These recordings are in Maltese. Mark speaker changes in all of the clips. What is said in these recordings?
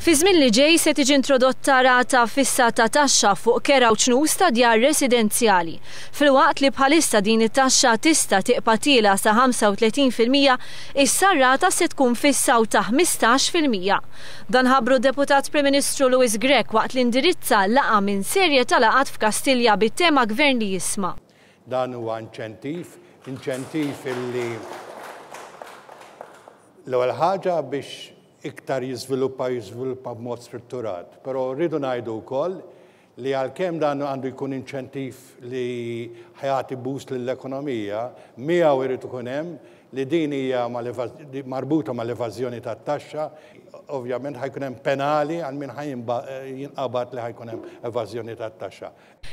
Speaker 1: Fiż-żmien li ġej se tiġi introdotta rata fissa ta' taxxa fuq kera u ċnus ta' djar residenzjali. Filwaqt li bħalissa din it-taxxa tista' tiqpa' tiela' sa 35 fil-mija, issa r-rata se tkun fissa u ta' 15 fil-mija. Dan ħabbru d-Deputat Prim Ministru Louis Grech waqt li indirizza laqgħa minn serje ta' laqgħat f'Kastilja bit-tema Gvern li jisma'. Dan huwa
Speaker 2: inċentiv, inċentiv illi l-ewwel ħaġa biex iktar jiżviluppa u jiżviluppa b'mod strutturat. Però rridu ngħidu wkoll li għalkemm dan għandu jkun inċentiv li ħajati boost lill-ekonomija, miegħu jrid ikun hemm li din hija marbuta mal-evażjoni tat-taxxa, ovvjament ħajkun hemm penali għal min ħajinqabad li ħajkun hemm evażjoni tat-taxxa.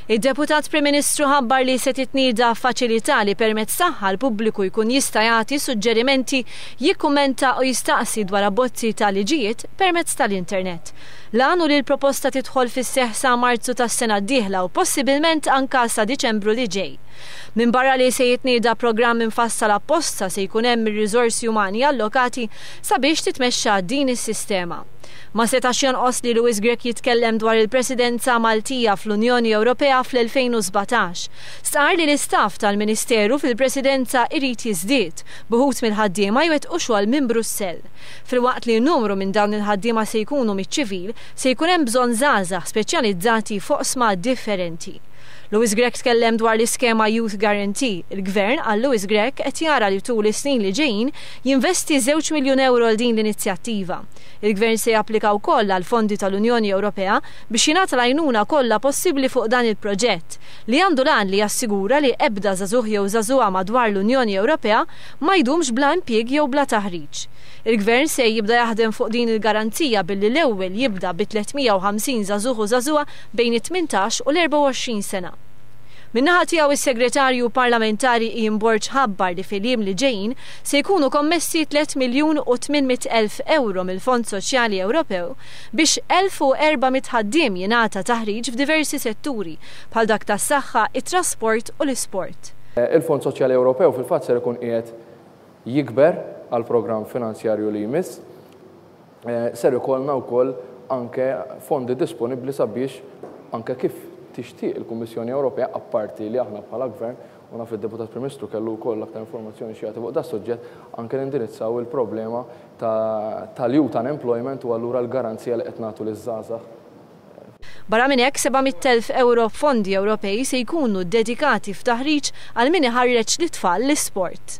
Speaker 2: Id-Deputat
Speaker 1: Prim Ministru ħabbar li se titnieda faċilità li permezz tagħha l-pubbliku jkun jista' jagħti suġġerimenti, jikkummenta u jistaqsi dwar abbozzi ta' liġijiet permezz tal-internet. L-għan hu li l-proposta tidħol fis-seħħ sa Marzu tas-sena d-dieħla u possibilment anka sa Diċembru li ġej. Minbarra li se jitnieda programm imfassal apposta se jkun hemm ir-riżorsi umani allokati sabiex titmexxa din is-sistema. Ma setax jonqos li Louis Grech jitkellem dwar il-Presidenza Maltija fl-Unjoni Ewropea fl-2017. Stqarr li l-istaff tal-Ministeru fil-Presidenza irid jiżdied, b'uħud mill-ħaddiema jwettqu xogħol minn Brussell. Filwaqt li numru minn dawn il-ħaddiema se jkunu miċ-ċivil, se jkun hemm bżonn żgħażagħ speċjalizzati f'oqsma differenti. Louis Grech tkellem dwar l-iskema Youth Guarantee. Il-Gvern, qal Louis Grech, qed jara li tul is-snin li ġejjin, jinvesti żewġ miljun ewro għal din l-inizjattiva. Il-Gvern se japplika wkoll għall-fondi tal-Unjoni Ewropea biex jingħata l-għajnuna kollha possibbli fuq dan il-proġett, li għandu l-għan li jassigura li ebda żagħżugħ jew żagħżugħa madwar l-Unjoni Ewropea ma jdumx bla impjieg jew bla taħriġ. Il-Gvern se jibda jaħdem fuq din il-garanzija billi l-ewwel jibda bi 350 żagħżugħ u żagħżugħa bejn it-tmintax u l-24 sena. Min-naħa tiegħu is-Segretarju Parlamentari Ian Borg ħabbar li fil-jiem li ġejjin se jkunu kommessi tliet miljun u tmien mitt elf ewro mill-Fond Soċjali Ewropew biex elf u erba' mitt ħaddiem jingħata taħriġ f'diversi setturi bħal dak tas-saħħa, it-trasport u l-isport. Il-Fond Soċjali
Speaker 3: Ewropew fil-fatt ser ikun qiegħed jikber għall-programm finanzjarju li jmiss. Ser ikollna wkoll anke fondi disponibbli sabiex, anke kif tixtieq il-Kummissjoni Ewropea, apparti li aħna bħala Gvern, u naf li d-Deputat Prim Ministru kellu wkoll aktar informazzjoni xi jagħti fuq das-suġġett, anke nindirizzaw il-problema tal-youth unemployment u allura l-garanzija li qed nagħtu liż-żgħażagħ.
Speaker 1: Barra minn hekk, 700 elf ewro f'fondi Ewropej se jkunu ddedikati f'taħriġ għal min iħarreġ lit-tfal l-isport.